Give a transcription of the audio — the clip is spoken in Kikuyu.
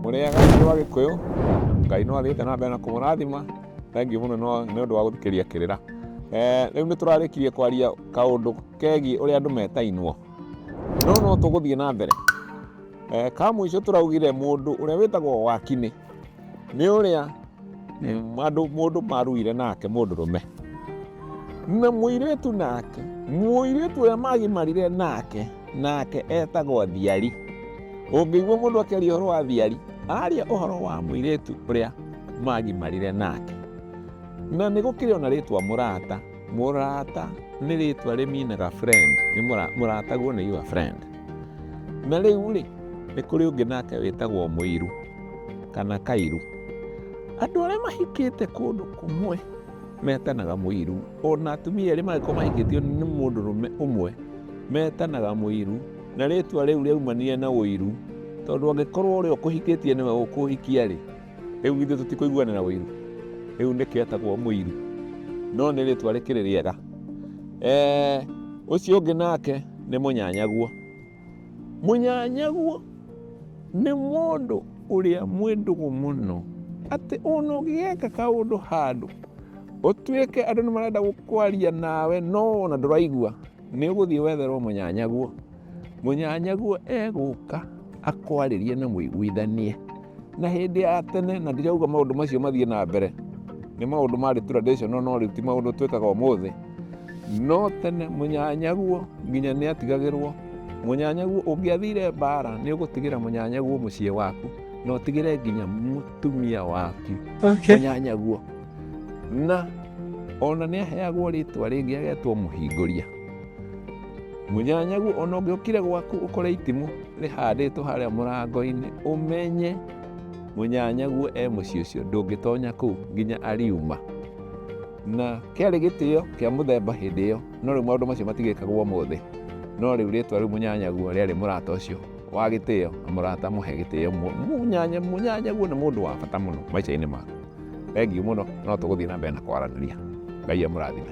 mũrĩaga nĩ wa gĩkũyũ ngai no athiĩte na mbere na kũmũrathima thangi mũno nĩ ũndũ wa gũthikĩria kĩrĩra eh, rĩu nĩ tũrarĩkirie kwaria kaũndũ kegiĩ ũrĩa andũ metainwo no no tũgũthiĩ na mbere eh, ka mũico tũraugire mũndũ ũrĩa wĩtagwo wakinĩ nĩ ũrĩa andũ mũndũ maruire nake mũndũrũme na mũirĩtu nake mũirĩtu ũrĩa magimarire nake nake etagwo thiari ũngĩigua mũndũ akĩaria ũhoro wa thiari aria ũhoro wa mũirĩtu ũrĩa magimarire nake na nĩ gũkĩrĩ ona rĩtwa mũrata mũrata nĩ rĩtwa rĩminaga friend nĩ mũrataguo nĩ your friend Na rĩu rĩ, nĩ kũrĩ ũngĩ nake wĩtagwo mũiru kana kairu. Andũ arĩa mahikĩte kũndũ kũmwe metanaga mũiru, ona atumia erĩ mangĩkorwo mahikĩtio nĩ mũndũrũme ũmwe metanaga mũiru, na rĩtwa rĩu rĩaumanire na ũiru, tondũ angĩkorwo ũrĩa ũkũhikĩtie nĩwe ũkũhikia rĩ, Rĩu githĩ tũtikũiguanĩra ũiru? Rĩu nĩkĩ etagwo mũiru? No nĩ rĩtwa rĩkĩrĩ rĩega. Eh, ũcio ũngĩ nake nĩ mũnyanyaguo. Mũnyanyaguo nĩ mũndũ ũrĩa mwĩndũgũ mũno atĩ ona ũgĩgeka kaũndũ handũ ũtuĩke andũ nĩ marenda kwaria nawe no ona ndũraigua nĩ ũgũthiĩ wetherwo mũnyanyaguo. Mũnyanyaguo egũka akwarĩrie na mũiguithanie. Na hĩndĩ ya tene, na ndirauga maũndũ macio mathiĩ na mbere, nĩ maũndũ marĩ traditional no rĩu ti maũndũ twĩkaga ũmũthĩ. No tene mũnyanyaguo nginya nĩ atigagĩrwo, mũnyanyaguo ũngĩathire mbara nĩ ũgũtigĩra mũnyanyaguo mũciĩ waku na ũtigĩre nginya mũtumia waku Okay. mũnyanyaguo. Na ona nĩ aheagwo rĩtwa rĩngĩ agetwo mũhingũria. Mũnyanyagu ona ũngĩokire gwaku ũkore itimũ rĩhandĩtwo harĩa mũrango-inĩ, ũmenye mũnyanyagu e mũciĩ ũcio ndũngĩtonya kũu nginya ariuma. Na kĩarĩ gĩtĩo kĩa mũthemba hĩndĩ ĩyo, no rĩu maũndũ macio matigĩkagwo ũmũthĩ. No rĩu rĩtwa rĩu mũnyanyagu rĩarĩ mũrata ũcio wa gĩtĩo na mũrata mũhe gĩtĩo. Mũnyanyagu nĩ mũndũ wa bata mũno maica-inĩ maku. Thengiũ mũno, no tũgũthiĩ na mbere na kwaranĩria. Ngai amũrathime.